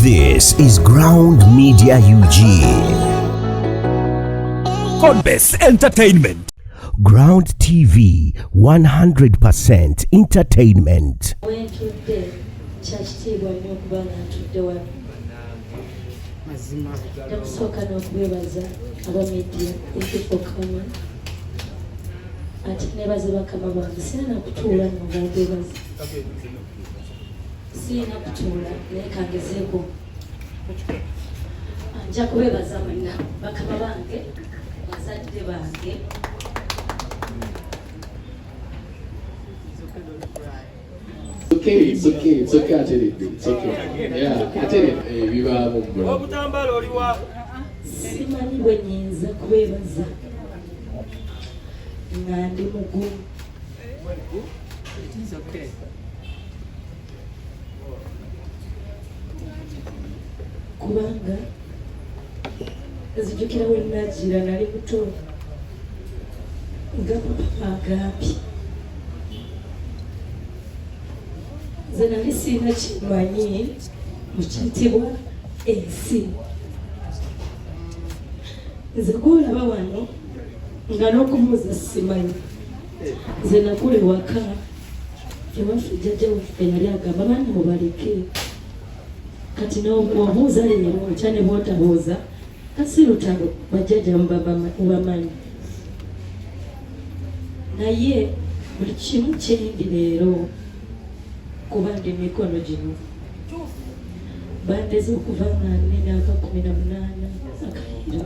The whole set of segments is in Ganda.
This is Ground Media UG. Codebase Entertainment. Ground TV 100% entertainment. ati nebaze bakama bange sirina kutuula nga mbabebaza siyina kutuula naye kangezeeko nja kubebaza mwenna bakama bange bazadde bange obutambaala oliwa simanyi bwenyinza kubebaza nga ndi mugumu kubanga nzijukira we nagira nali muto nga papa agambye nze nali sirina kimanyi mukitibwa ensi nze gwolaba wano nga n'okubuuza simanyi nze nakula ewaka ewaffe jjajja waffe yali agamba baana mubaleke kati nobuuza leero otya ne bwotabuuza kasi lutalo bajjajja mubamanyi naye buli kimu kyendi leero kuba ndi mikono gino bandeze okuva nga nina akakumi na munaana akayiro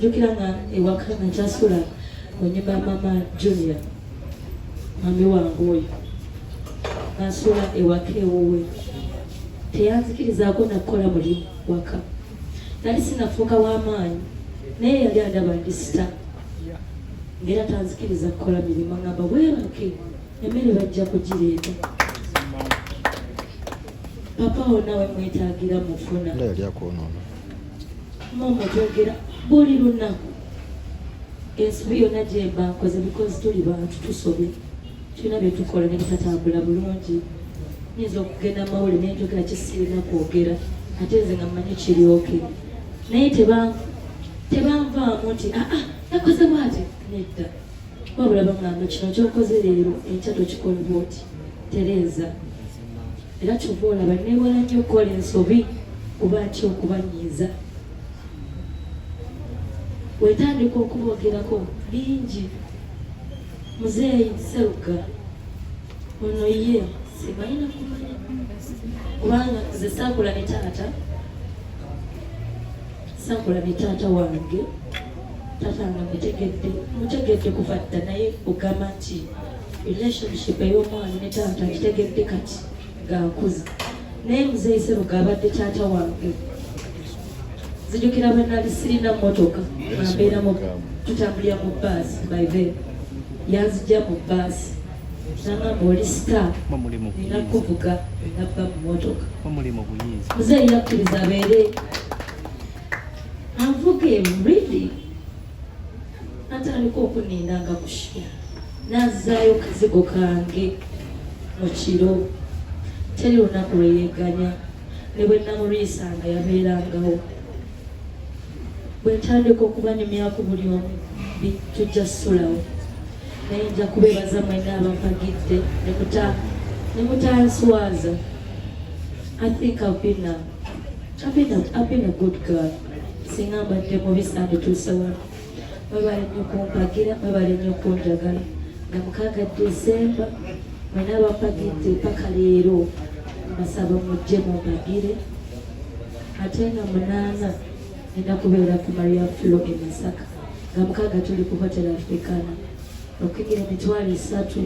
jjukira nga ewaka nga kyasula onyuma mama junia mami wange oyo nasula ewaka ewuwe teyanzikirizaako nakukola mulimu waka nali sinafuuka w'amaanyi naye yali adaba ndi sita ngaera tanzikiriza kukola mirimu ngamba weebake emmere bajja kugireeta papa wo nawe mwetagira mufuna mama twogera buli lunaku ensobi yonna gyemba nkoze bikozi tuli bantu tusobye tulina byetukola nebitatambula bulungi nyinza okugenda mawuli nenjogera kisirina kwogera ate nze nga mmanyi kiryoke naye tebanvaamu nti aa ah, ah, nakoze bwati nedda wabula bangamba kino kyokoze leero enkya tokikola bwoti tereeza era kyova olaba newala nnyo okukola ensobi kuba atya okubanyiiza wetandika okubogerako bingi muzeeyi seruga ono ye sibalina kumanya kubanga nze saakula ne taata saakula ne taata wange taata nga mutegedde mutegedde kuva dda naye ogamba nti relationship ey'omwana ne taata nkitegedde kati gakuza naye muzeeyi seruga abadde taata wange zijukira bwe nali sirina motoka ambeera mu tutambulira mu baasi by the yanzija mu baasi nangamba oli star nina kuvuga nabba mu motoka muzeeyi yakkiriza abeere anvuga emuridi natandika okuninda nga mushira nazaayo kazigo kange mu kiro teri lunaku lweyeganya ne bwe namulwisanga yabeerangawo bwe ntandika okubanyumyaku buli omu tujja sulawo naye nja kubeebaza mwena abampagidde ne mutanswaza i think i've been now singa mbadde mubi sandituuse wano mwebale nnyo kumpagira mwebale nnyo kunjagala nga mukaaga desemba mwena abampagidde paka leero mbasaba mujje mumpagire ate nga munaana nina kubeera ku maria flo e masaka nga mukaaga tuli ku hotel africana okuyigira emitwalo esatu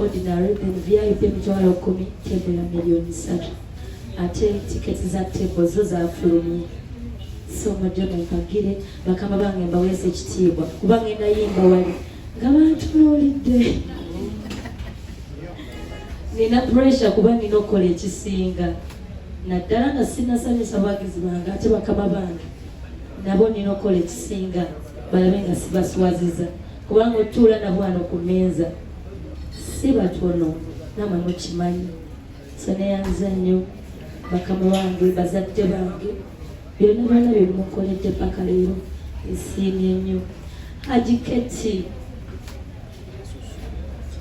ordinary then vip emitwalo kumi tebula miliyoni satu ate tiketi za tebo zo zafulumye so mujje mumpagire bakama bange mbaweesa ekitiibwa kuba ngenda yimba wali nga bantunuulidde nina pressure kuba nina okukola ekisinga naddala nga sinasanyusa bagizi bange ate bakama bange nabo nina okukola ekisinga balabe nga sibaswaziza kubanga otuula nabo wano ku meeza si batono namwe mukimanyi seneyanza nnyo bakama wange bazadde bange byonna byonna byebimukoledde paka leero esiimye nnyo haji keti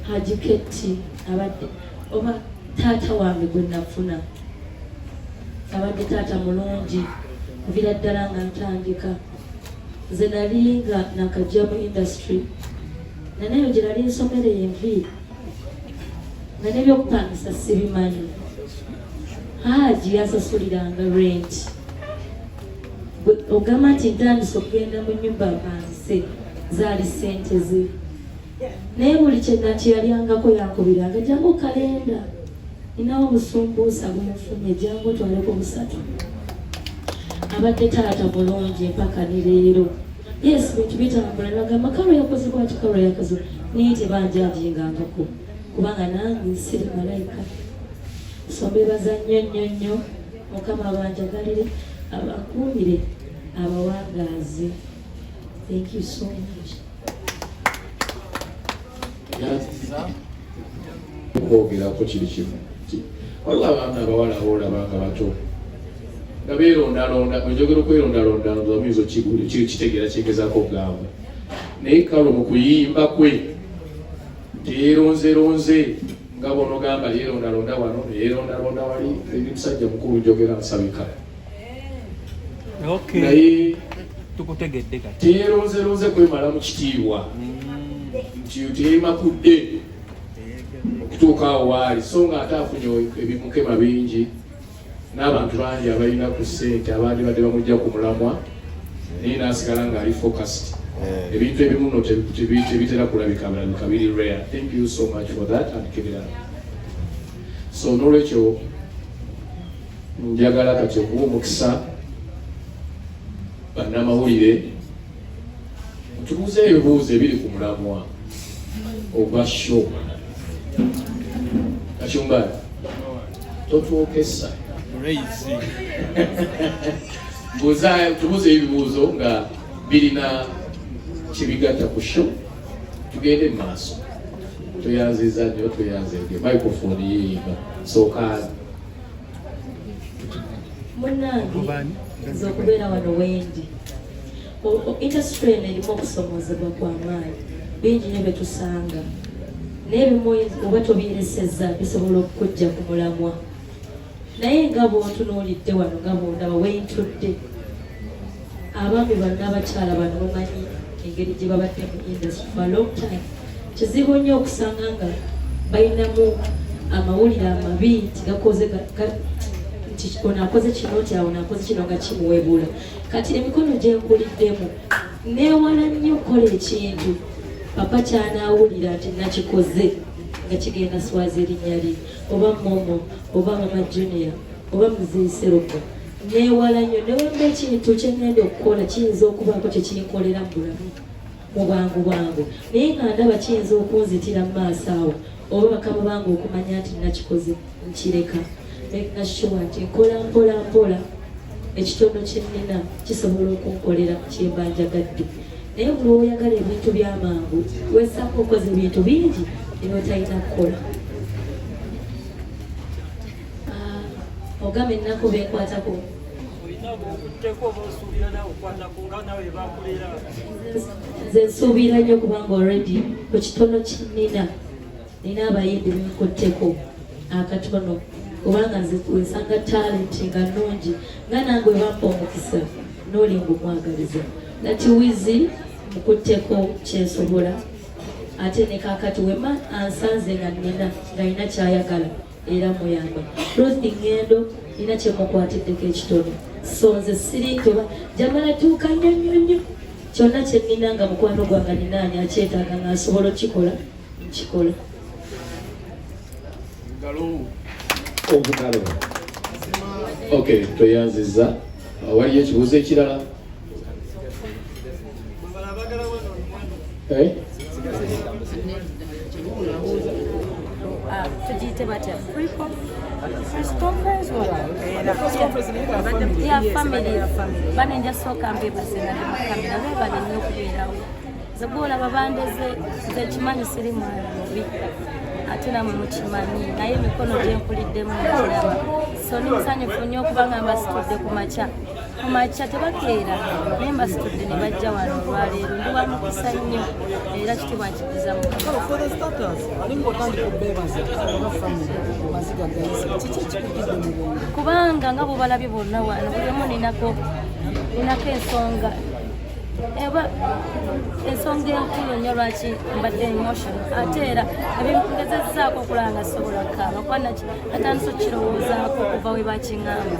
haji keti abadde oba taata wange gwe nafuna abadde taata mulungi nvira ddala nga ntandika nze nali nga nakajja mu industry naneyo gye nali nsomera envi nga nebyokupangisa sibimanyi haaji yansasuliranga rent ogamba nti ntandise okugenda mu nyumba apanse zaali sente ze naye buli kyedda nti yalyangako yankubiranga jangu kalenda ninawo obusumbuusa bwenfunye jangu otwaleko busatu abadde taata mulungi empaka ne leero yes bintu bitambula nagamba kalo yakoze bwati kalo yakoze naye tebanjajingangako kubanga nange siri malayika sombebaza nnyo nnyo nnyo mukama abanjagalire abakuumire abawangaazi Thank you so much. okwogerako kiri kimu waliwo abaana abawala abaolaba nga bato nga beerondalonda enjogera okwerondalonda oyinza kitegeera kyegezako okugamba naye kalo mu kuyimba kwe teyeronzeronze nga bonogamba yeerondalonda wano neyeerondalonda wali ebimusajja mukulu njogera nsabika naye tukutegedde kati teyeronzeronze kwemala mu kitiibwa mm. nti teyemakudde okutuuka awo waali so nga ate afunye ebimukema bingi n'abantu bangi abalina ku ssente abandibadde bamujja ku mulamwa naye nasigala ng'ali focused eh. ebintu ebimu no tebitera kulabika bulabika biri rare thank you so much for that and kibirala so nolwekyo Njagala kati okuwa omukisa bannamawulire tubuuze ebibuuzo ebiri ku mulamwa ogwa sho kacumbali totwokesa buuza tubuuze ebibuuzo nga birina kyebigatta ku sho tugende mu maaso tweyanziza nnyo tweyanzege microphone yeyinga sookaani munnange nze okubeera wano wendi indasitule eno erimu okusomoozebwa kwa maanyi bingi ne byetusanga naye bimu oba tobyeresezza bisobola okukujja ku mulamwa naye nga bwontunuulidde wano nga bwondaba wentudde abaami banna abakyala bano bamanyi engeri gye babadde mu industry for a long time kizibu nnyo okusanga nga balinamu amawulire amabi nti gakoze nti ono akoze kino nti ono akoze kino nga kimuwebuula kati emikono gyenkuliddemu neewala nnyo okukola ekintu papa kyanaawulira nti nakikoze nga kigenda swaza erinnya lye oba momo oba mama junior oba muzeeserogo Neewala nnyo newamba ekintu kye ŋŋenda okukola kiyinza okubaako kye kinkolera mu bulamu mu bwangu bwangu naye nga ndaba kiyinza okunzitira mu maaso awo oba bakama bange okumanya nti nakikoze nkireka making sure nti nkola mpola mpola ekitono kyennina kisobola okunkolera kyemba njagadde naye buli oyagala ebintu byamangu wesanga okoze ebintu bingi eba talina kukola Ah, ogamba ennaku beekwatako nze nsuubira nnyo kubanga olredi ku kitono kinina nina abayimbi benkutteko akatono kubanga nze wesanga talenti nga nnungi nga nange webampa omukisa nolinga omwagaliza nati wizi mukutteko kyensobola ate nekakati wema ansanze nga nina nga nina kyayagala era muyamba ruth ngendo nina kyemukwatiddeko ekitono so nze siri nti oba jamala tuuka nnyo nnyo nnyo kyonna kye nnina nga mukwano gwanga ninaani akyetaaga nga asobola okukikola nkikola obugalo ok tweyanziza waliyo ekibuuzo ekirala Eh? tugiyite batya ya famire bane nja sooka mbeebase nga ndi mukamera beebale nnyo okubeerawo ze gwolaba bandeze nze ekimanyi siri mwana mubi ate namwe mukimanyi naye emikono gyenkuliddemu mukiraba so nimusanyufu nnyo okubanga mbasitudde ku makya ku makya tebakeera naye mbasitudde ne bajja wano olwaleero ndi wa mukisa nnyo era kitibwa nkidiza mu kubanga nga bubalabye bonna wano buli omu ninako ninako ensonga eba ensonga enkulu nnyo lwaki mbadde emotion ate era ebingezezaako okulaba nga sobola kaaba kuba naki atandisa okukirowoozaako okuva we bakiŋamba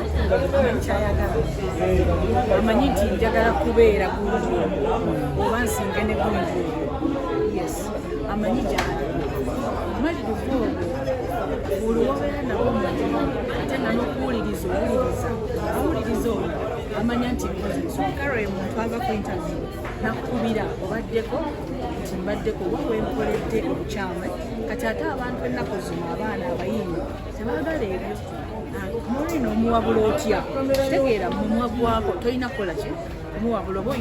kyayagala amanyi nti njagala kubeera gunju oba nsinge ne gunju yes amanyi gyali malirivu olwo olwobeera nabo mulimu ate nanokuwuliriza owuliriza owuliriza olwo amanya nti kale oyo muntu ava ku interview nakukubira obaddeko nti mbaddeko oba wenkoledde obukyama kati ate abantu ennaku zino abaana abayimbi tebagala ebyo Maureen omuwabula otya tegeera mumwa gwako tolina kukola ki kumuwabula oba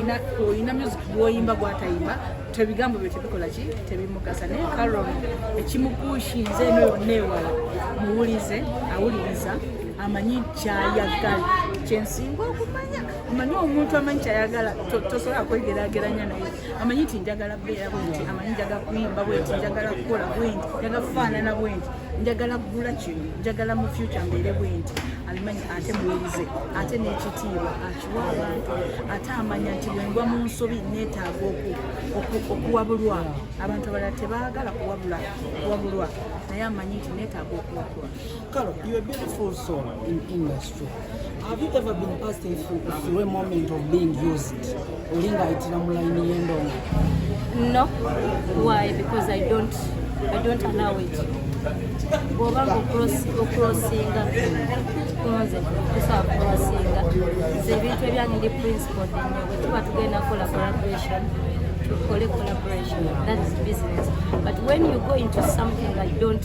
olina music gwoyimba gwatayimba tebigambo byo tebikola ki tebimugasa naye karon ekimukushinze eno yonna ewala muwulize awuliriza amanyi kyayagala kyensinga okumanya omanyi omuntu amanyi kyayagala tosobola kwegerageranya naye amanyi ti njagala beera bwenti amanyi njaga kuyimba bwenti njagala kukola bwenti njaga kufaanana bwenti njagala kugula kino njagala mu fyuca mbeere bwenti abimanyi ate muwulize ate n'ekitiibwa akiwa abantu ate amanya nti bwengwa mu nsobi neetaaga okuwabulwa abantu abalala tebaagala kuwabula kuwabulwa naye amanyi nti neetaaga okuwabulwa Have you ever been passed through a moment of being used? Olinga itira mulaini yendongo. No. Why? Because I don't I don't allow it. Bwoba ngo cross crossinga konze kusa crossinga. Ze bintu ebyange ndi principle dinyo. Wetuba tugenda kola collaboration. Tukole collaboration. That is business. But when you go into something I don't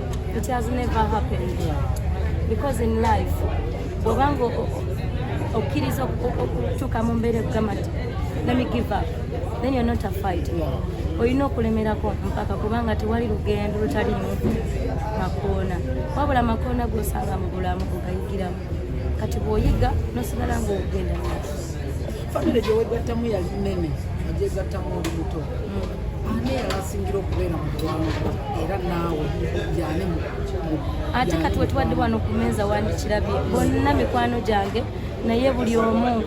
It has never happened because in life bwobanga okkiriza okutuuka mu mbeera ekugamba nti let me give up then you're not a fight olina okulemerako mpaka kubanga tewali lugendo lutalimu makoona wabula makoona gosanga mu bulamu ogayigiramu kati bwoyiga nosigala ngaogenda famire gyewegattamu yali nene agyegattamu olubuto mm. ate kati wetubadde wano ku meeza wandikirabye bonna mikwano gyange naye buli omu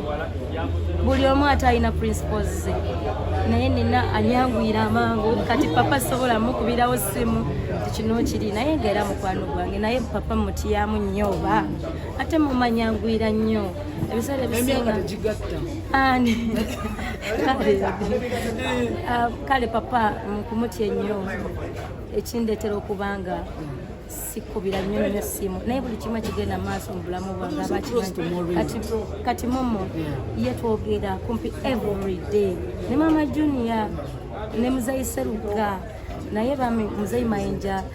buli omu ate alina principles ze naye nina anyanguyira amangu kati papa sobola mukubirawo simu kino kiri naye nga era mukwano gwange naye papa mutiyamu nnyo oba ate mumanyanguyira nnyo ebiseera ebisinga Ah, kale papa nkumutya ennyo ekindeetera okuba nga sikubira nnyo nnyo ssimu naye buli kimu kigenda maaso mu bulamu bwange abakati kati momo ye twogera kumpi every day ne mama junior ne muzayi seruga naye bami muzayi mayinja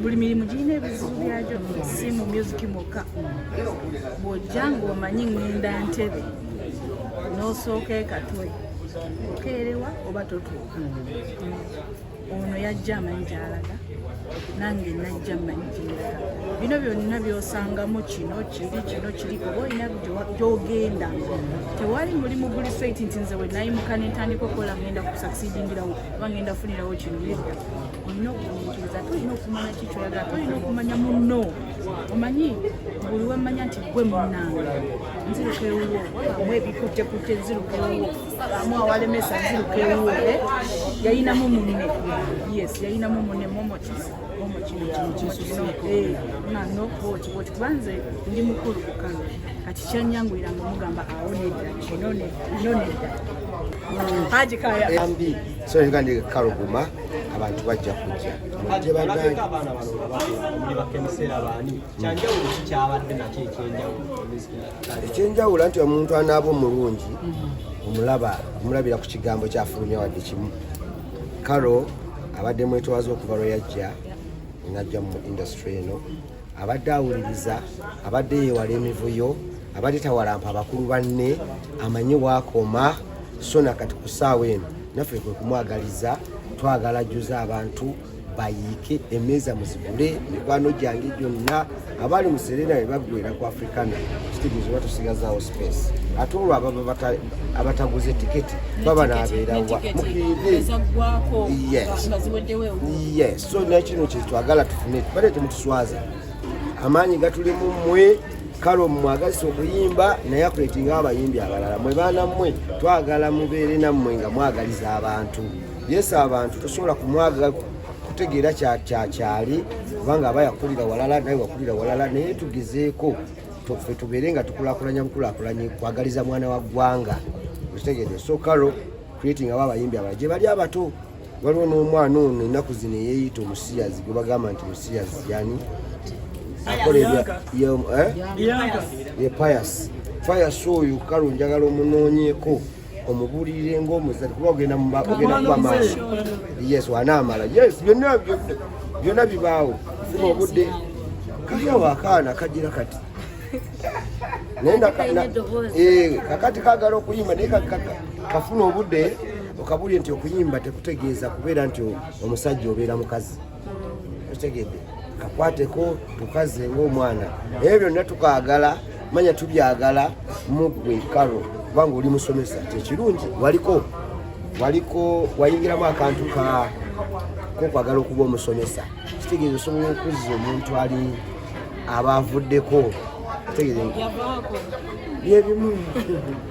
buli mirimu girina ebizibu byagyo si mu myuziki mwokka bw'ojja ng'omanyi ŋŋenda ntebe n'osooka ekatwe okeerewa oba totuuka ono yajja amanyi gyalaga nange najja manyi gyeraga bino byonna byosangamu kino kiri kino kiri oba olina gyogenda tewali mulimu guli sweit nti nze wenayimuka nentandika okukola ngenda kusakisidingirawo oba ngenda funirawo kino nedda olina okugumiikiriza tolina okumanya ki kyoyagala tolina okumanya munno omanyi buli wemmanya nti gwe munnange nziruka ewuwo amu ebikuttekutte nziruka ewuwo amu awalemesa nziruka ewuwo eh? yayinamu munne yes yayinamu munne momokis eh, kubanze ndi mukulu kukano kati kyanyangulira nga omugamba awo nedda kino nedda haji kaya so nga ndi kaluguma abantu bajja kujja ekyenjawulo nti omuntu anaaba omulungi omulaba omulabira ku kigambo kyafulumya wadde kimu karo abadde mwetwaza okuva lwe yajja najja mu industry eno abadde awuliriza abadde yewala emivuyo abadde tawalampa abakulu banne amanyi wakoma so nakati ku saawa eno naffe kwe kumwagaliza twagala juza abantu bayiike emeeza muzigule mikwano gyange gyonna abali mu serena be baggwera ku africana kitegeeza oba tusigazaawo space ate olwo ababa abataguze tiketi baba naabeerawa mukiride yes so nakino kyetwagala tufune tubale temutuswaza amaanyi gatulimu mwe kale omwagazisa okuyimba naye akuletinga abayimbi abalala mwe baana mmwe twagala mubeere nammwe nga mwagaliza abantu yesu abantu tosobola kumwaga kutegeera kyakyali kubanga aba yakulira walala naye wakulira walala naye tugezeeko fe tubeere nga tukulakulanya bukulakulanye kwagaliza mwana wa ggwanga okitegede so kalo creating abo abayimbi abala gye bali abato waliwo n'omwana ono ennaku zino eyeeyita omusiyazi gwe bagamba nti musiyazi yani akolebwa ye payasi eh? payasi oyo kale onjagala omunoonyeeko omubulirire ngaomuzali kuba ogenda kuba maaso yes wanaamala yes byonna byonna bibaawo funa obudde kaliawo akaana kagira kati naye eh, kakati kagala okuyimba naye kafuna obudde okabulire nti okuyimba tekutegeeza kubeera nti omusajja obeera mukazi okitegedde kakwateko tukaze ngaomwana ebyo byonna tukaagala manya tubyagala mugwe karo kubanga oli musomesa kyekirungi waliko waliko wayingiramu akantu ka kokwagala okuba omusomesa kitegeeza osobola okuzza omuntu ali aba avuddeko kitegeeza byebimu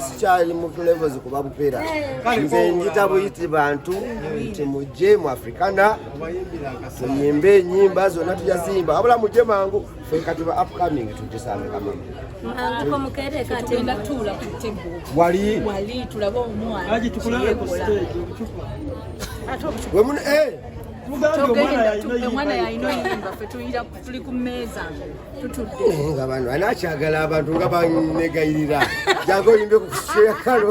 sikyali mutu levels kuba bupera nze njita buyiti bantu nti mujje mu africana tuyimbe enyimba zonna tujaziyimba wabula mujje mangu fe kati ba upcoming tujesamukama wali wemuno eh! omwana yalina yimba fe tuyiraku tuli ku mmeeza tutudde eh, nga bano anakyagala abantu nga banegayirira jaga oyimbe ku kisera kalo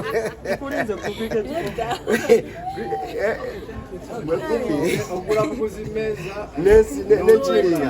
nensi nekiriya